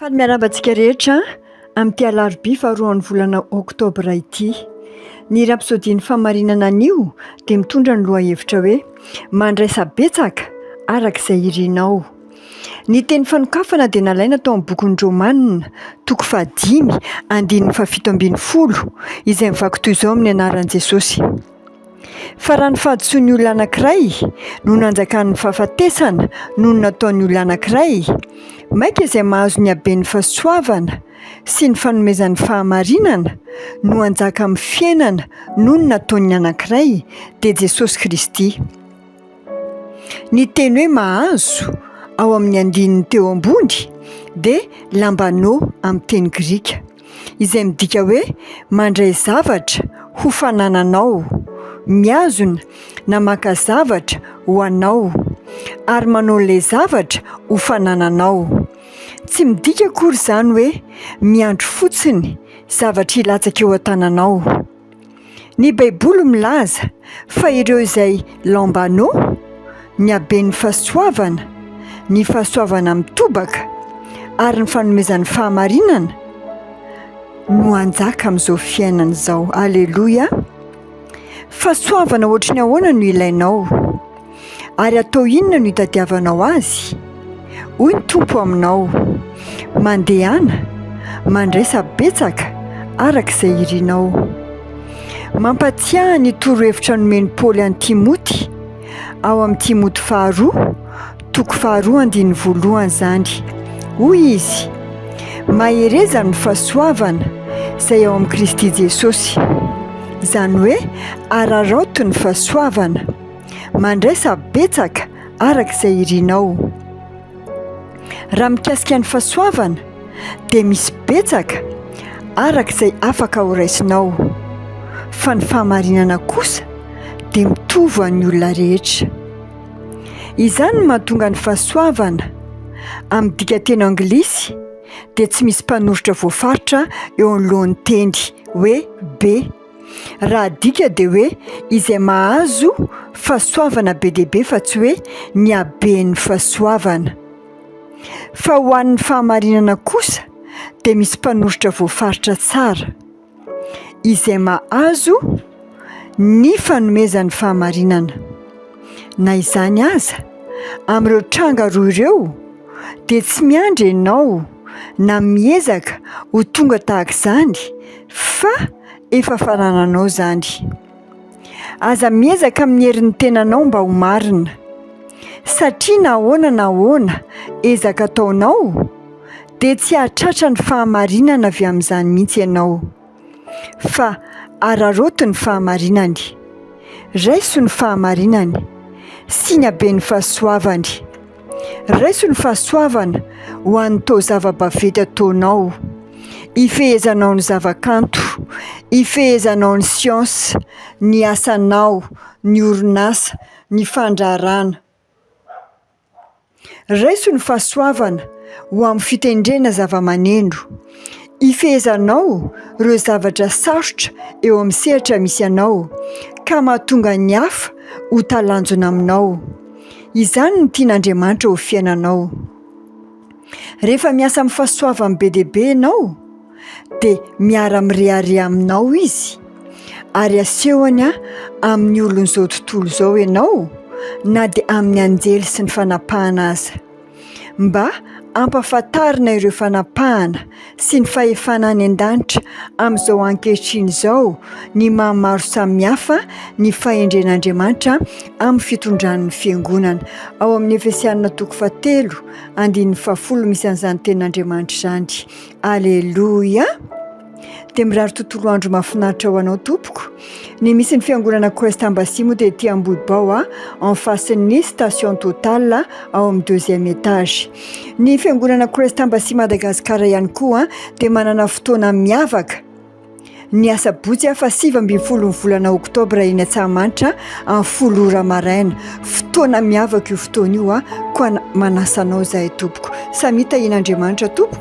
Faly miarahaba antsika rehetra amin'ity alarobia faharoan'ny volana oktobra ity. Ny rapsodian'ny famarinana anio dia mitondra ny lohahevitra hoe mandraisa betsaka araka izay irinao. Ny teny fanokafana dia nalaina tao amin'ny bokin'ny Romanina, toko fahadimy, andininy fahafito ambin'ny folo, izay mivaky toy izao amin'ny anaran'i Jesosy. Fa raha ny fahadisoan'ny olona anankiray no nanjakan'ny fahafatesana noho ny nataon'ny olona anankiray, maika izay mahazo ny haben'ny fahasoavana sy ny fanomezan'ny fahamarinana no hanjaka amin'ny fiainana noho ny nataon'ny anankiray, dia Jesosy Kristy. Ny teny hoe mahazo ao amin'ny andininy teo ambony dia lambano amin'ny teny grika. izay midika hoe mandray zavatra ho fanananao, mihazona na maka zavatra ho anao, ary manao ilay zavatra ho fanananao. Tsy midika akory izany hoe miandry fotsiny zavatra hilatsaka eo an-tananao. Ny Baiboly milaza fa ireo izay Lambano, ny haben'ny fahasoavana, ny fahasoavana mitobaka, ary ny fanomezan'ny fahamarinana, no hanjaka amin'izao fiainana izao. Aleloia! Fahasoavana ohatry ny ahoana no ilainao? Ary atao inona no itadiavanao azy? Hoy ny Tompo aminao, Mandehana, mandraisa betsaka araka izay irinao. Mampatsiahy ny torohevitra nomen'i Paoly an'i Timoty, ao amin'i Timoty faharoa, toko faharoa andininy voalohany izany. Hoy izy, Mahereza ny fahasoavana izay ao amin'i Kristy Jesosy. Izany hoe, araraoty ny fahasoavana. Mandraisa betsaka araka izay irinao. Raha mikasika ny fahasoavana dia misy betsaka araka izay afaka ho raisinao, fa ny fahamarinana kosa dia mitovy ho an'ny olona rehetra. Izany no mahatonga ny fahasoavana, amin'ny dikanteny anglisy, dia tsy misy mpanoritra voafaritra eo anoloan'ny teny hoe be. Raha adika dia hoe izay mahazo fahasoavana be dia be fa tsy hoe ny haben'ny fahasoavana. Fa ho an'ny fahamarinana kosa dia misy mpanoritra voafaritra tsara, izay mahazo ny fanomezan'ny fahamarinana. Na izany aza, amin'ireo tranga roa ireo, dia tsy miandry ianao na miezaka ho tonga tahaka izany, Fa efa fanananao izany. Aza miezaka amin'ny herin'ny tenanao mba ho marina. Satria na ahoana na ahoana ezaka ataonao, dia tsy hahatratra ny fahamarinana avy amin'izany mihitsy ianao. Fa araraoty ny fahamarinany. Raiso ny fahamarinany. Siniabe ny fahasoavany. Raiso ny fahasoavana ho an'ny to zava-baventy ataonao, ifehezanao ny zavakanto, ifehezanao ny siansa, ny asanao, ny orinasa, ny fandraharahana. Raiso ny fahasoavana ho amin'ny fitendrena zavamaneno, ifehezanao ireo zavatra sarotra eo amin'ny sehatra misy anao ka mahatonga ny hafa ho talanjona aminao. Izany no tian'Andriamanitra ho fiainanao. Rehefa miasa amin'ny fahasoavany be dia be ianao, dia miara-mirehareha aminao izy, ary asehony amin'ny olon'izao tontolo izao ianao, na dia amin'ny anjely sy ny fanapahana aza. Mba hampahafantarina ireo fanapahana sy ny fahefana any an-danitra amin'izao ankehitriny izao ny maha maro samihafa ny fahendren'Andriamanitra amin'ny fitondran'ny Fiangonana. Ao amin'ny Efesiana toko fahatelo, andininy fahafolo misy an'izany tenin'Andriamanitra izany. Aleloia! Dia mirary tontolo andro mahafinaritra ho anao tompoko. Ny misy ny fiangonana Quest Embassy moa dia ety Ambohibao a, en face-n'ny station Total ao amin'ny deuxième étage. Ny fiangonana Quest Embassy Madagascar ihany koa dia manana fotoana miavaka ny asabotsy afa sivy ambin'ny folo ny volana oktobra eny Antsahamanitra amin'ny folo ora maraina. Fotoana miavaka io fotoana io a, koa manasa anao izahay tompoko. Samia tahian'Andriamanitra tompoko.